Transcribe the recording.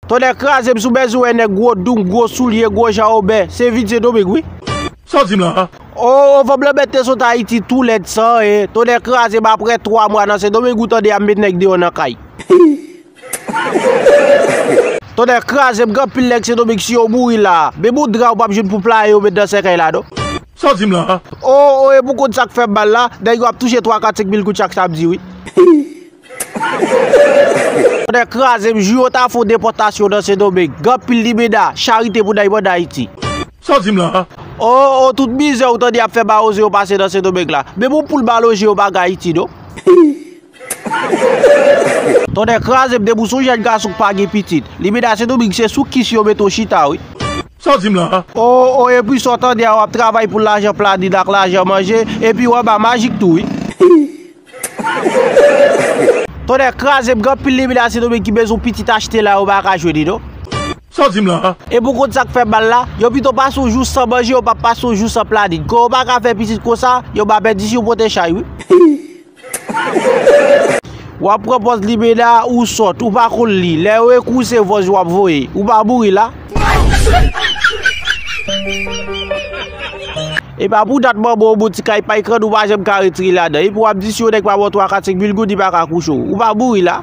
Tonnè krazem sou bezouen nèg gwo doum gwo soulye gwo jan obè se vin se doming wi. Sa w di m la a? Oh oh fanm lan mèt te sot ayiti tou lèd sa e tonnè krazem aprè 3 mwa nan se doming ou tande ap met nèg deyò nan kay. Tonnè krazem gen anpil nèg se doming si yo mouri la a menm yon dra ou pap jwenn pou playe yo met nan sèkèy la non. Sa w di m la a? Oh oh epi w konn sak fèm mal la nèg yo ap touche 3 4 5 mil goud chak samdi wi. Tonnè krazem jou yo ta fon depotasyon nan sendomeng gen pil libeda charite pou dayman dayiti. Sa w di m la a? Oh oh tout mizè ou tande yap fè mawozo yo pase nan sendomeng la menm yon poul mal oje yo pa gen ayiti non. Tonnè krazem depi w son jèn gason k pa gen pitit libeda sendomeng se sou kis yo mete w chita wi. Sa w di m la a? Oh oh epi sa w tande a wap travay pou lajan planin ak lajan manje epi w anba majik tou wi. Tonnè kraze m gen anpil limit la sendomeng ki bezwen yon pitit achte la yo pa ka jwenn li non. Saw dim la a? Epi ou konn sak fè mal la? Yo pito pase yon jou san manje yo pa pase yon jou san planin. Kon yo pa ka fè pitit konsa, yo ba mèt disi yo pote chay wi. Wap pran pòz limena a ou sòt, ou pa konn li, lè yo ekri w se vòz wap voye, ou pa mouri la. Epa pou dat manbo ou bon ti kay pay kràn ou pa janm ka retire ladan epi wap di si yon nèg pa baw 3 4 5 mil goud li paka kouche w ou pa bouri la.